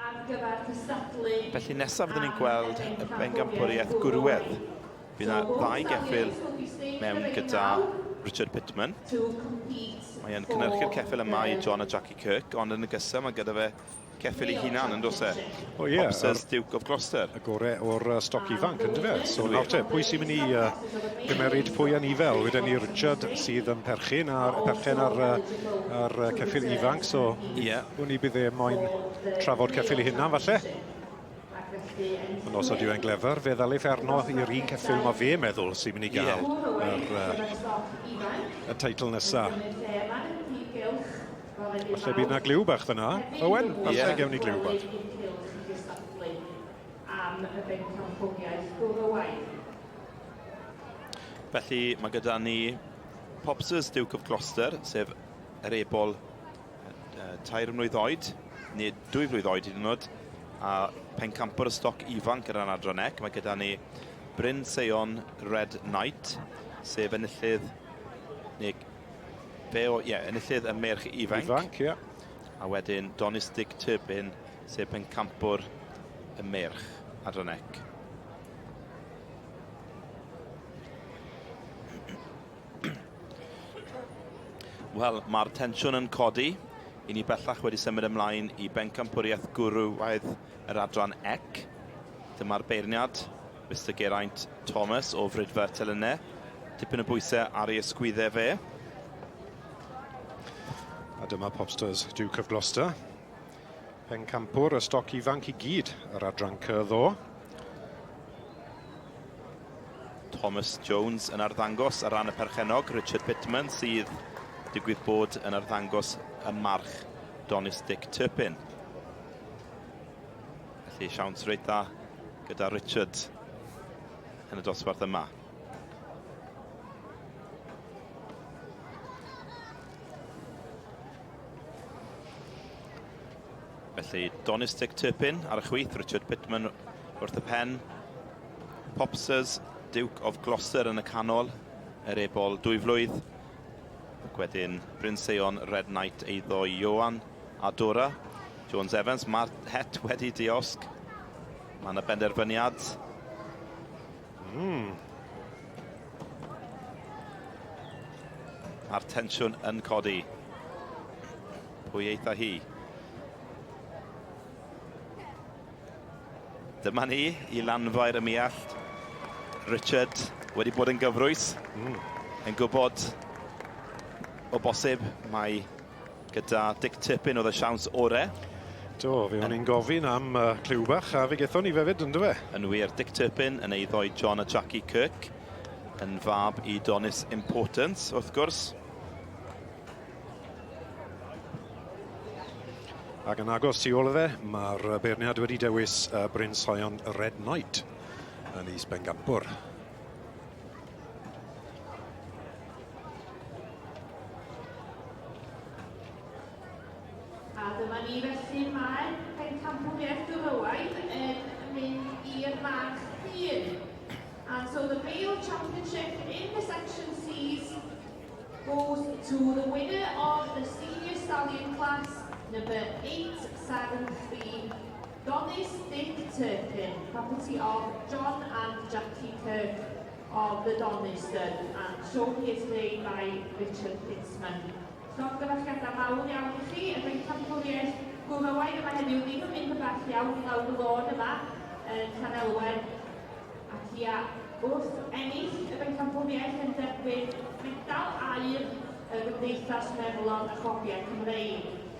ar gyfer cystadlu... Felly nesaf fydden ni'n gweld y bencampwriaeth gwrywedd. Bydd yna ddau geffyl mewn gyda Richard Pittman. Mae e'n cynnyrchu'r ceffyl yma i John a Jackie Kirk, ond yn y gysa mae gyda fe ceffyl ei hunan yn dos e. O oh, ie. Yeah. Hopsers Duke of Gloucester. Y gore o'r uh, stoc ifanc yn dyfe. So nawr te, pwy sy'n mynd i uh, gymeryd pwy yn ifel? Wedyn ni Richard sydd yn perchyn a'r perchen ar, uh, ar uh, ceffyl ifanc. So Ie, wn i bydd e moyn trafod ceffil i hynna, falle. Yn osod yw e'n glefer, fe ddal eif arno i'r un ceffil mae fe meddwl sy'n mynd i gael yr, uh, y teitl nesa. Falle bydd na glyw bach fyna. Owen, falle yeah. gewn ni glyw bach. Felly mae gyda ni Pops's Duke of Gloucester, sef Yr ebol, tair mlwydd oed, neu dwy flwydd oed hyd yn oed, a pencampwr y stoc ifanc yn yr adran ec. Mae gyda ni Bryn Seion Red Knight, sef enillydd, neu fe o, ie, enillydd y merch ifanc. Ifanc, ie. A wedyn Donistig Turbin, sef pencampwr y merch adran ec. Wel, mae'r tensiwn yn codi. I ni bellach wedi symud ymlaen i bencampwriaeth gwrywaidd yr adran ec. Dyma'r beirniad, Mr Geraint Thomas o Frydfa Telynne. Tipyn o bwysau ar ei ysgwyddau fe. A dyma Popstars, Duke of Gloucester. Pencampwr y stoc ifanc i gyd yr adran cy ddo. Thomas Jones yn arddangos ar ran y perchennog, Richard Pittman sydd digwydd bod yn arddangos y march Donis Dick Turpin. Felly siawns reit dda gyda Richard yn y dosbarth yma. Felly, Donistic Turpin ar y chwith, Richard Pitman wrth y pen. Popsers, Duke of Gloucester yn y canol, yr ebol dwy flwydd. Ac wedyn Bryn Seion, Red Knight, eiddo Ioan a Dora. Jones Evans, mae'r het wedi diosg. Mae yna benderfyniad Mm. A'r tensiwn yn codi. Pwy eitha hi? Dyma ni i lanfair y miallt. Richard wedi bod yn gyfrwys. Mm. Yn gwybod o bosib mae Gyda Dick Tippin oedd y siawns ore. Do, fe o'n i'n gofyn am uh, cliw bach, a fe gethon ni fefyd, ynddo fe? Yn wir, Dick Tippin yn eiddo i John a Jackie Kirk, yn fab i Donis Importance, wrth gwrs. Ac yn agos tu ôl fe, mae'r beirniad wedi dewis Bryn Sion Red Knight yn is Bengampwr. A dyma ni felly mae pencampwriaeth Dyfywain yn mynd i'r march hun. And so the male championship in the section C's goes to the winner of the senior stallion class, number 873, Donis Big Turkin, property of John and Jackie Kirk of the Donister and shown here today by Richard Kinsman. Llongyfarchiadau mawr iawn i chi, y Bencampwriaeth Gwrywaidd yma heddiw, ddim yn mynd yn bell iawn i lawr y lôn yma yn Llanelwen, ac ia, wrth ennill y Bencampwriaeth yn derbyn Medal Aur y Gymdeithas Meddalon a Chofiau Cymreig.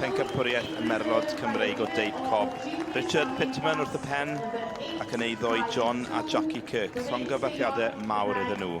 Pencampwriaeth y Merlod Cymreig o Deip Cob. Richard Pitman wrth y pen ac yn ei ddoi John a Jackie Kirk. Llongyfarchiadau mawr iddyn nhw.